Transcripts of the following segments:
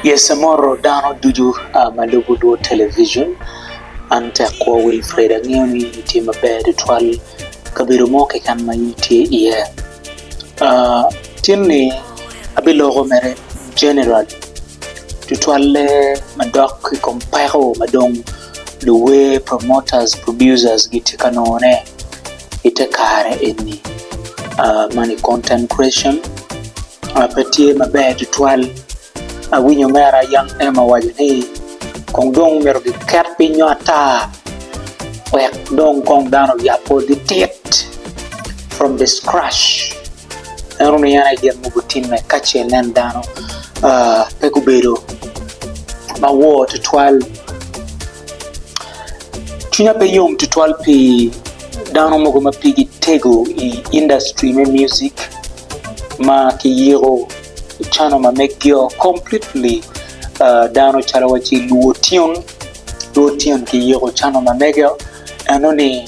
Yese moto dano ducu ma lubo lwod television, an tek kwor Wilfred angeyo ni in itye maber tutwal kabedo mo keken ma in itye iye. Tinni abiloko mere general tutwalle madok i kom peko madong. luwer, promoters, producers gitye ka nongo ne i te kare eni man i content creation pe tye maber tutwal awinyo mera Young M owaco ni kong dong myero ki ket piny nyo ata wek dong kong dano oyab kor gi tit from the scratch en onongo en aye gin mogo timme kace nen dano pe gubedo ma wor tutwal. Cwinya pe yom tutwal pi dano mogo ma pigi tego i industry me music ma kiyiko cano ma megio completely ah, dano calo wa ci luo tyon, luo tyon kiyiko cano ma mege-o enoni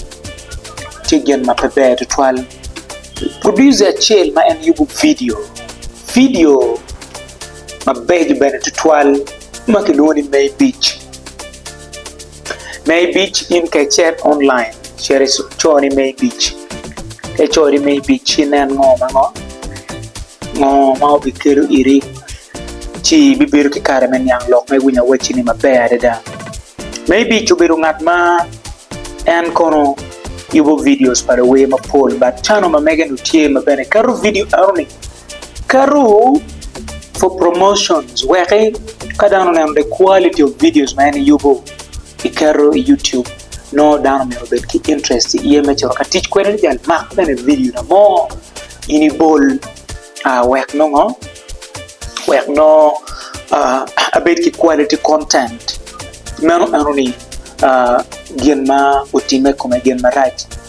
tye gin ma pe ber tutwal. Producer acel ma en yubo vidio, vidio mabeco bene tutwal ma kilwongo ni Maybic. Maybic in ka icet online cito ico ni Maybic ka ico ni Maybic ci inen ngo ma ngo ngo ma obikelo iri ci ibibedo ki kare me niang lok ma iwinyo awacci-ni maber adada. Maybic obedo ngat ma en kono yubo vidios pa luwer mapol bat cano ma mege-nu tye ma bene keto vidio enoni Keto for promotions weki ka dano oneno the quality of videos ma en yubo iketo i YouTube nongo dano myero obed ki interest i iye me cito ka tic kwede ni jang mak bene video na mo in ibol wek nongo wek nongo abed ki quality content meno enoni gin ma otime i kome gin marac.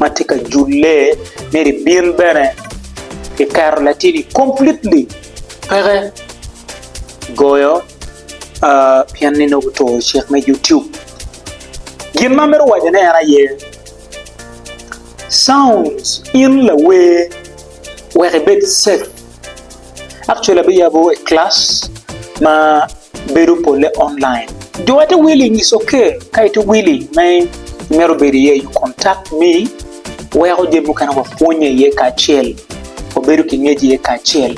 ma tye ka julle ni libin bene kiketo latini completely peke goyo pien ni nongo guturo cik me YouTube gin ma amito wacone en aye sounds in lawer wek ibed safe Actually abiyabo e class ma bedo pole online. Do ate willing is okay ka ite willing me imito bedo iye you contact me weko jami mukene wapwonye iye kacel wabedo ki ngec iye kacel.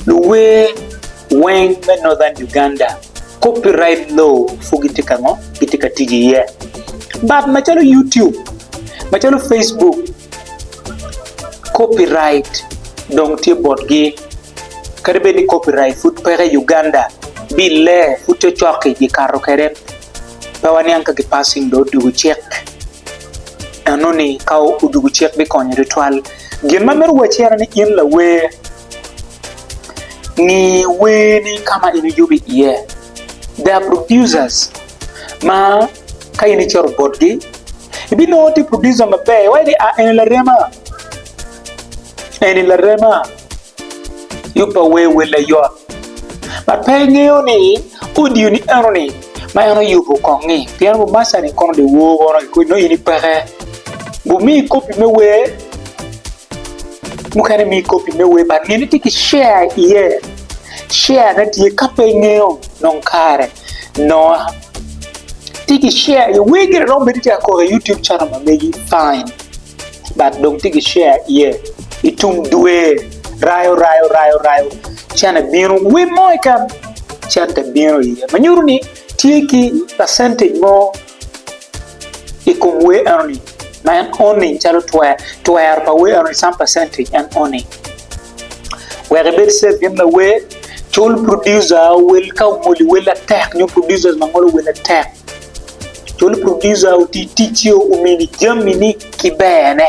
Luwer weng me Northern Uganda copyright law pud gitye kango? Gitye ka tic iye but macalo YouTube macalo Facebook. Copyright dong tye botgi. Kadi bed ni copyright pud peke i Uganda, bille pud cocoki gikato kwede. Pe waniang ka gipassing dong odwogo cik. Enoni ka odwogo cik bikonyo tutwal. Gin ma amito wacci en ni in lawer, ngi werni ka ma in iyubo iye. There are producers ma ka in icoto botgi, ibinongo tye producer maber, iwaco ni, ah eni larema, eni larema, yub pa wer welle yot. Ma pe ingeyo ni audio ni enoni ma en oyubo kong-ngi, pien Bumaca-ni kono dong wo kono ki kodi nongo in ipeke. Bumi kopi me wer, mukene mi kopi me wer but ngene tye ki share iye. share ne tye ka pe ingeyo nong kare noah tye ki share iye wer gire romo bedo tye ka koko i YouTube channel ma megi fine but dong tye ki share iye i tung dwe rayo rayo rayo rayo cene bino wer mo keken cente bino iye ma nyuto ni tye ki percentage mo I kom wer enoni ma en owning calo twer, twero pa wer enoni some percentage en owning. Wek ibed safe gin lawer, cul producer owel ka ongoli wel atek nyo producers ma ngolo wel atek. Cul producer oti ticce omini jamini ki berne.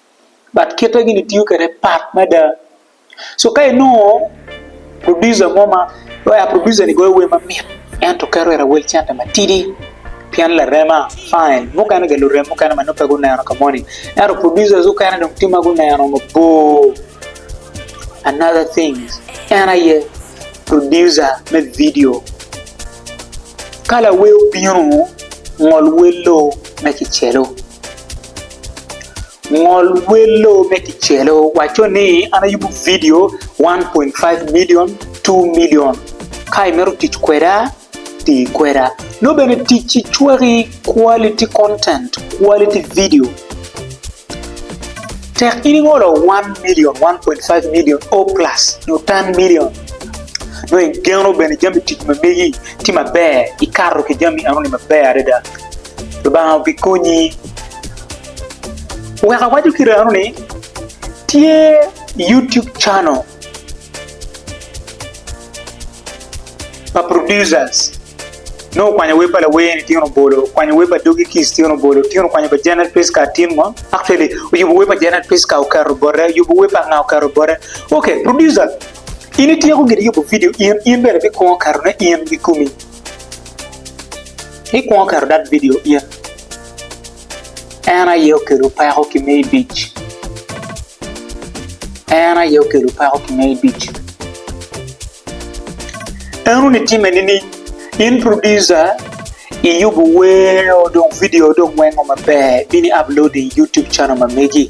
but kite gini tiyo kede pat mada so ka inongo producer mo ma wai producer ni goyo wer mamit ento keto wer awel cente matidi pien larema fine mukene ga lurem mukene ma nongo pe guneno ka moni ento producers mukene dong tye ma guneno mabor another thing en aye producer me video ka lawer obino ngol wello me kicelo. Ngol welo me kicelo wacco ni, An ayubo vidio 1.5 milion, 2 milion. Ka imito tic kweda, ti kweda. Nongo bene tic ci cwaki quality content, quality video. Tek in ingolo 1 milion, 1.5 milion, or plus nyo 10 milion, nongo igeno bene jami tic ma megi tye maber, ikato ki jami enoni maber adada. Lubanga obikonyi. Wek awaco ki rano ni tye YouTube channel pa producers nongo okwanyo wer pa lawer tyen obolo, okwanyo wer pa Doggy Kiss tyen obolo, tyen okwanyo pa Janet Priska tyen ngo actually oyubo wer pa Janet Priska oketo bote, oyubo wer pa nga oketo bote. Ok, producer in ityeko gin yubo video in, in bene bikongo ketone in kikomi. Ikwongo keto that video in. En aye okelo peko ki me ibic. En aye okelo peko ki me ibic. En uni time nining? In producer iyubo wer o dong video dong wengo maber bini upload i YouTube channel ma megi.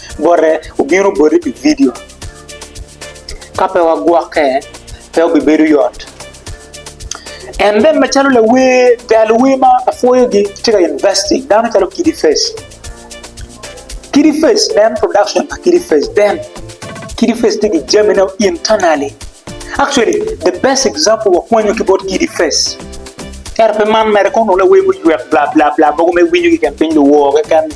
Bote obino boti pi vidio. Ka pe wagwokke, pe obibedo yot. En bene macalo lawer, ga luwer ma apwoyogi tye ka investing dano calo Kidi Face. Kidi Face nen production pa Kidi Face then Kidi Face tye ki jamine internally. Actually, the best example wakwanyo ki bot Kidi Face. Ento pe man mere kono lawer muywek bla bla bla mogo me winyo keken piny luwor keken ni.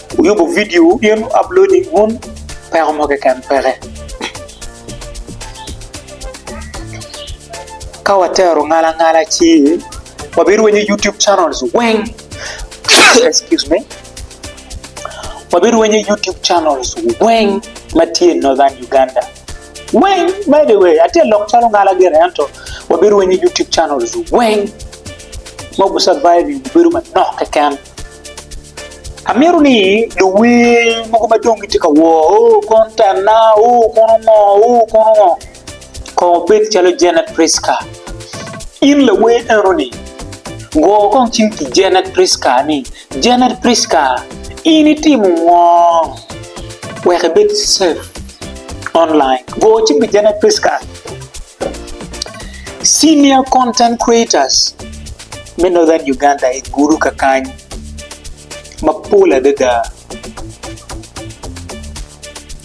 Wuyubo vidio wubin wu upload i wun peko mo keken peke. Ka watero ngala ngala ci wabirwenyo YouTube channels weng excuse me wabirwenyo YouTube channels weng ma tye i Northern Uganda weng by the way atye lok calo ngala gire ento wabirwenyo YouTube channels weng mogo surviving bedo manok keken. Amito ni luwer mogo ma dong gitye ka wor o kono tenna o kono ngo o kono ngo kong obed calo Janet Priska. In lawer enoni go kong cim ki Janet Priska ni, Janet Priska in itimo ngo wek ibed safe online? Go cim ki Janet Priska. Senior content creators me Northern Uganda i Gulu kakany mapol adada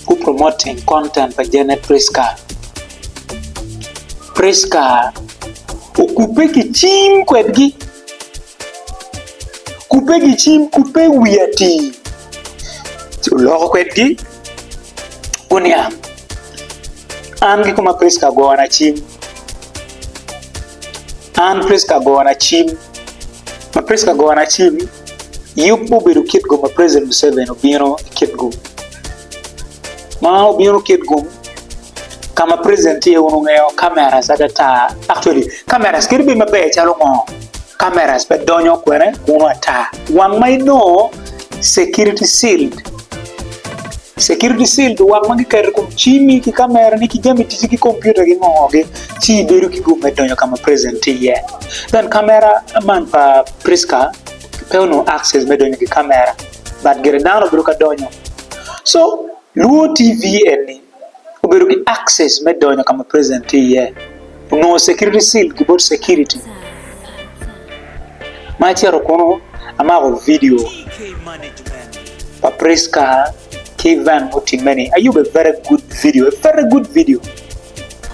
gu promote eng content pa Janet Prisca. Prisca okubbe gicim kwedgi, kubbe gicim kubbe wiye atir ci oloko kwedgi. Guniang. An ki koma Priska gona cim. An Priska gona cim. Ma Priska gona cim, yub obedo kit gum ma President Museveni obino kit gum. Ma obino kit gum, Ka ma president tye wun wungeyo cameras ada tar. Actually cameras kit bim maber calo ngo? Cameras pe donyo kwene kunu ata. Wang ma inongo security sealed. Security sealed wang ma giketo ikom cimi ki camera ni ki jami tici ki computer ki ngo ngo gi ci ibedo ki gum me donyo ka ma president tye iye. Then camera man pa Prisca pe onongo access me donyo ki camera but gire dano bedo ka donyo. So Luo TV eni obedo ki access me donyo ka ma president tye iye, onongo security seal ki bot security ma acito kunu amako video pa Prisca ki event mutimme ni ayubo a very good video, a very good video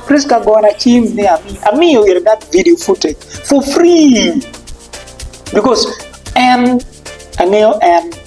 Prisca gona cim ni amiyo ite that video footage for free because en angeyo en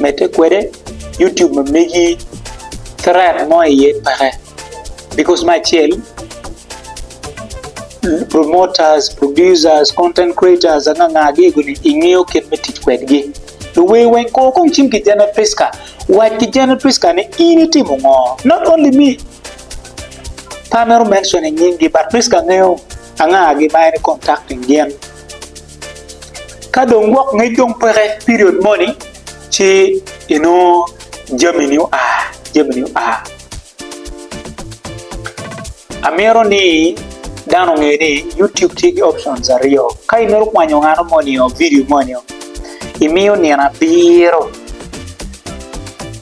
medde kwede YouTube ma megi threat mo iye peke because me acel promoters, producers, content creators anga anga gego ni ingeyo kit me tic kwedgi luwer weng kor kong cim ki General Prisca wac ki General Prisca ni in itimo ngo not only me pe amito mention nying gi but Prisca ngeyo anga gi ma en i contacting gin Ka dong gwok ngec dong peke period moni ci inongo jamini oa, jamini oa. Amito ni dano onge ni YouTube tye ki options aryo, ka imito kwanyo ngano moni o vidio moni o, imiyo nino abiro,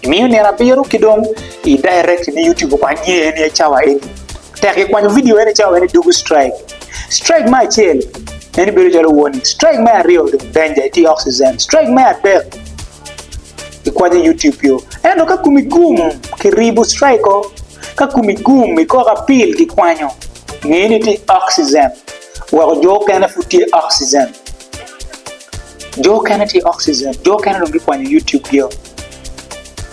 imiyo nino abiro ki dong i direct ni YouTube okwany ni en aye cawa eni. Tek ikwanyo vidio eni cawa meno idoko i strike. Strike me acel, meno bedo calo warning. Strike me aryo dong danger, iti oxygen. Strike me adek, ikwanyo YouTube yo. Ento ka kumi gum, kiribo strike o. Ka kumi gum, ikoko apil, kikwanyo. Nge ni iti oxygen. Weko jo okene pud tye oxygen. Jo okene tye oxygen. Jo okene dong gikwanyo YouTube gio.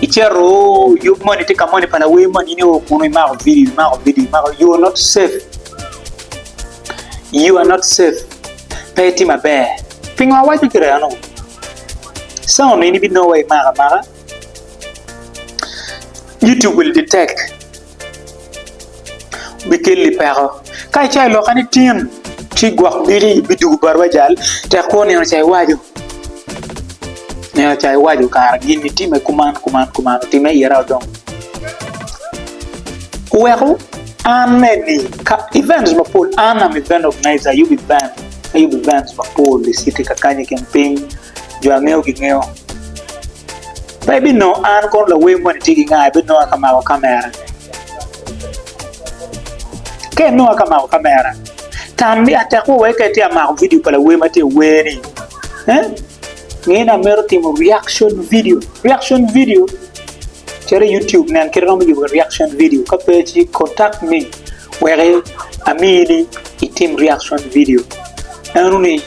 Icito yub moni tye ka moni pa lawer moni in io kunu imako video imako video imako you are not safe you are not safe pe itye maber pingo awaco gire ano cawa onongo in ibinongo wa imaka amaka YouTube-bi tek. bikelli peko. Ka icayo i loka ni tin, ci gwok diki bidugo bot wajal, tek kwo nino ca iwaco. Nino ca iwaco kara gin itime kuman kuman kuman otime ira odong. Weku an me ni ka events mapol an am event organizer ayubo event, ayubo events mapol i city kakany i kin piny, jo angeyo gingeyo. Pe ibinongo an kono lawer moni tye ki nga ibinonga ka mako kamera. Ka inonga ka mako kamera, tam ni atekwa wai ka itye ka mako video pa lawer ma tye ka wer ni. Eh? Ngeye ni amito timo reaction video. Reaction video cere i YouTube nen kit romo yubo reaction video. Ka pe ci contact me wek amini itim reaction video. Eno ni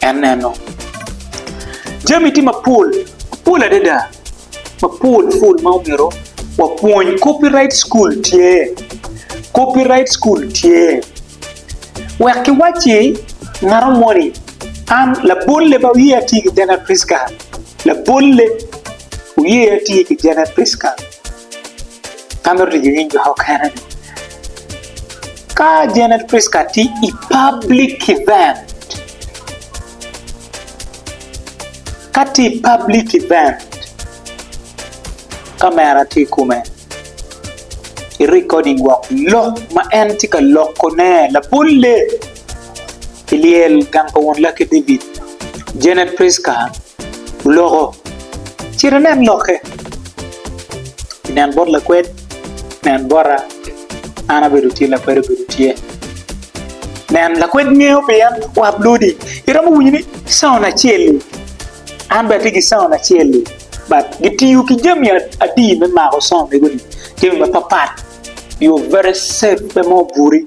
en neno jami tye mapol, mapol adada mapol pol ma omyero wapwony. Copyright school tye, copyright school tye wek kiwacci ngato moni an labolle ma wiye atye ki Jena Prisca, labolle wiye atye ki Jena Prisca ka mito tic ki nying jo mukene-ni. Ka Janet Pritzker tye i public event, Ka tye i public event, kamera tye i kome, i recording wok lok ma en tye ka lokone labolle. I lyel gang pa Won Lucky David, Janet Pritzker oloko. Cit inen lokke. Inen bot lakwed. Nen bota, an abedo tye, lakwed obedo tye. Nen, lakwed ngeyo pien wap lodi. Iromo winyo ni caon acel-li, an bene atye ki caon acel-li. But gitiyo ki jami adi me mako caon mego-ni? Jami mapapat. You're very safe, pe mo buri.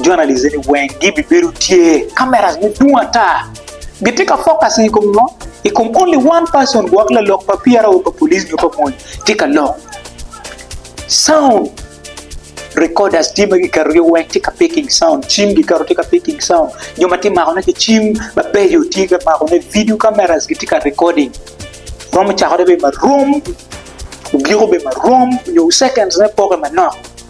Journalist ni weng gi bi bedo tye cameras me dwong ata. Gi tye ka focusing i kom ngo? I kom only one person gwok lalok pa PRO pa police nyo pa mony tye ka lok. Sound recorders tye ma gi keto gi weng tye ka picking sound, cim gi keto tye ka picking sound, jo ma tye mako ne ki cim ma bejo tye ka mako ne video cameras gi tye ka recording. Romo cako ne bedo ma rom, ogiko bedo ma rom nyo seconds ne poke manok.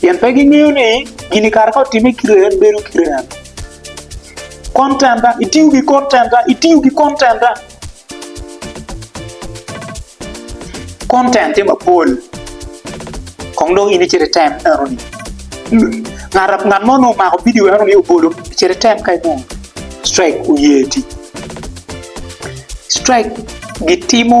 Pien pe gingeyo ni gin i kare ka otime kite en bedo kite en. Kon tenda, itiyo gi kon tenda, itiyo gi kon tenda. Kon ten tye mapol. Kong dong in icit item enoni. Ngat ngat mo nongo omako bidio enoni obolo icit item ka inongo strike oye ti. Strike gitimo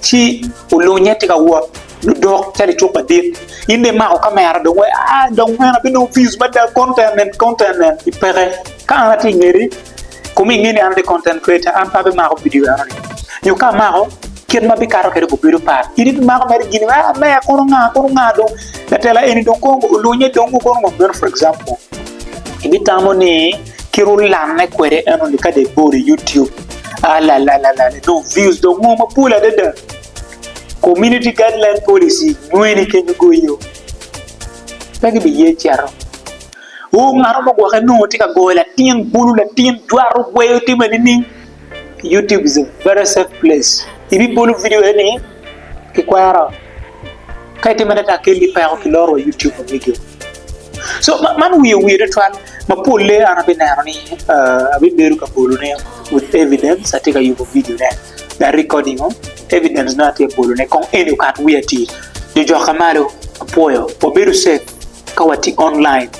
Ci olunye tye ka wot ludok calo icuk madit. In dong imako kamera dong wai, aa dong man abinongo views mada, content en, content en. I peke, ka an atye i ngeti, kome inge ni an atye content creator, an pe abimako vidio enoni. Nyo ka amako, kit ma abikato kwede kong bedo pat. In ibimako mere gini, aa me, kono nga, kono nga dong. Latela eni dong kong olunye dong kono ngo meno for example. Ibitamo ni. ki ru lanne kwede enoni kade bor i YouTube alalalala dong views dong ngo mapol adada community guideline policy nyweni kenyo goyo pe gibiye ceto o ngat mo gwoke nongo tye ka goyo latin bulu latin jwato gweyo time nining YouTube is a very safe place ibibolo video eni kikwero ka itimo ne ka keni peko ki loro wa YouTube wa video so man wiye wiye tutwal ma polle an abi neno ni abi bedo ka bolo ne with evidence atye ka yubo video ne me recording o evidence ne atye bolo ne kong eni okat wiya atir jo joka malo apwoyo wabedo safe ka watye online